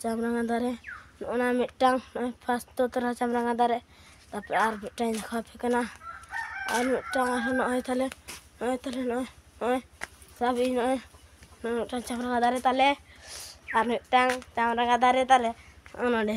ᱪᱟᱢᱨᱟᱝᱜᱟ ᱫᱟᱨᱮ ᱚᱱᱟ ᱢᱤᱫᱴᱟᱝ ᱯᱷᱟᱥᱴ ᱫᱚ ᱛᱟᱦᱮᱸ ᱞᱮᱱᱟ ᱪᱟᱢᱨᱟᱝᱜᱟ ᱫᱟᱨᱮ ᱛᱟᱨᱯᱚᱨᱮ ᱟᱨ ᱢᱤᱫᱴᱟᱝ ᱤᱧ ᱫᱮᱠᱷᱟᱣ ᱟᱯᱮ ᱠᱟᱱᱟ ᱟᱨ ᱢᱤᱫᱴᱟᱝ ᱟᱨᱦᱚᱸ ᱱᱚᱜᱼᱚᱭ ᱛᱟᱞᱮ ᱱᱚᱜᱼᱚᱭ ᱛᱟᱞᱮ ᱱᱚᱜᱼᱚᱭ ᱱᱚᱜᱼᱚᱭ ᱥᱟᱵ ᱵᱤᱱ ᱱᱚᱜᱼᱚᱭ ᱱᱚᱜᱼᱚᱭ ᱢᱤᱫᱴᱟᱝ ᱪᱟᱢᱨᱟᱝᱜᱟ ᱫᱟᱨᱮ ᱛᱟᱞᱮ ᱟᱨ ᱢᱤᱫᱴᱟᱝ ᱪᱟᱢᱨᱟᱝᱜᱟ ᱫᱟᱨᱮ ᱛᱟᱞᱮ ᱱᱚᱜᱼᱚᱭ ᱱᱚᱰᱮ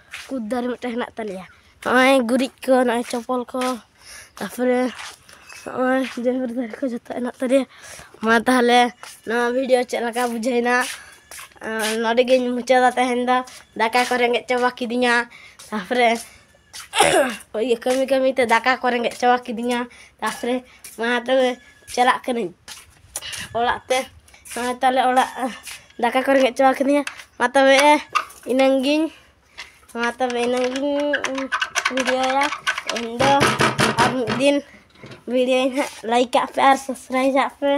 ᱠᱩᱫ ᱫᱟᱨᱮ ᱢᱤᱫᱴᱮᱱ ᱦᱮᱱᱟᱜ ᱛᱟᱞᱮᱭᱟ ᱱᱚᱜᱼᱚᱭ ᱜᱩᱨᱤᱡ ᱠᱚ ᱱᱚᱜᱼᱚᱭ ᱪᱚᱯᱚᱞ ᱠᱚ ᱛᱟᱨᱯᱚᱨᱮ ᱱᱚᱜᱼᱚᱭ ᱡᱮᱨᱮᱲ ᱫᱟᱨᱮ ᱠᱚ ᱡᱚᱛᱚ ᱦᱮᱱᱟᱜ ᱛᱟᱞᱮᱭᱟ ᱢᱟ ᱛᱟᱦᱚᱞᱮ ᱱᱚᱣᱟ ᱵᱷᱤᱰᱤᱭᱳ ᱪᱮᱫ ᱞᱮᱠᱟ ᱵᱩᱡᱷᱟᱹᱣᱮᱱᱟ ᱱᱚᱰᱮ ᱜᱤᱧ ᱢᱩᱪᱟᱹᱫᱟ ᱛᱮᱦᱮᱧ ᱫᱚ ᱫᱟᱠᱟ ᱠᱚ ᱨᱮᱸᱜᱮᱡ ᱪᱟᱵᱟ ᱠᱤᱫᱤᱧᱟ ᱛᱟᱨᱯᱚᱨᱮ ᱤᱭᱟᱹ ᱠᱟᱹᱢᱤ ᱠᱟᱹᱢᱤᱛᱮ ᱫᱟᱠᱟ ᱠᱚ ᱨᱮᱸᱜᱮᱡ ᱪᱟᱵᱟ ᱠᱤᱫᱤᱧᱟ ᱛᱟᱨᱯᱚᱨᱮ ᱢᱟ ᱛᱚᱵᱮ ᱪᱟᱞᱟᱜ ᱠᱟᱹᱱᱟᱹᱧ ᱚᱲᱟᱜ ᱛᱮ ᱱᱚᱜᱼᱚᱭ ᱛᱟᱦᱚᱞᱮ ᱚᱲᱟᱜ ᱫᱟᱠᱟ ᱠᱚ ᱨᱮᱸᱜᱮᱡ ᱪᱟᱵᱟ ᱠᱤᱫᱤᱧᱟ ᱢᱟ ᱛᱚᱵᱮ ᱤᱱᱟᱹᱝ ᱜᱤᱧ ᱢᱟ ᱛᱚᱵᱮ ᱤᱱᱟᱹᱝ ᱜᱤᱧ ᱵᱷᱤᱰᱤᱭᱳᱭᱟ ᱤᱧ ᱫᱚ ᱟᱨ ᱢᱤᱫ ᱫᱤᱱ ᱵᱷᱤᱰᱤᱭᱳᱧ ᱦᱟᱸᱜ ᱞᱟᱭᱤᱠ ᱠᱟᱜ ᱯᱮ ᱟᱨ ᱥᱟᱵᱥᱠᱨᱟᱭᱤᱵᱽ ᱟᱜ ᱯᱮ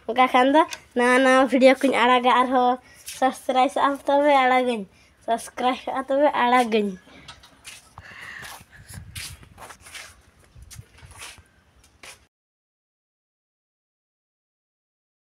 ᱚᱱᱠᱟ ᱠᱷᱟᱱ ᱫᱚ ᱱᱟᱣᱟ ᱱᱟᱣᱟ ᱵᱷᱤᱰᱤᱭᱳ ᱠᱚᱧ ᱟᱲᱟᱜᱟ ᱟᱨᱦᱚᱸ ᱥᱟᱵᱥᱠᱨᱟᱭᱤᱵᱽ ᱟᱜᱼᱟᱢ ᱛᱚᱵᱮ ᱟᱲᱟᱜᱟᱹᱧ ᱥᱟᱵᱥᱠᱨᱟᱭᱤᱵ ᱠᱟᱜᱼᱟ ᱛᱚᱵᱮ ᱟᱲᱟᱜᱟᱹᱧ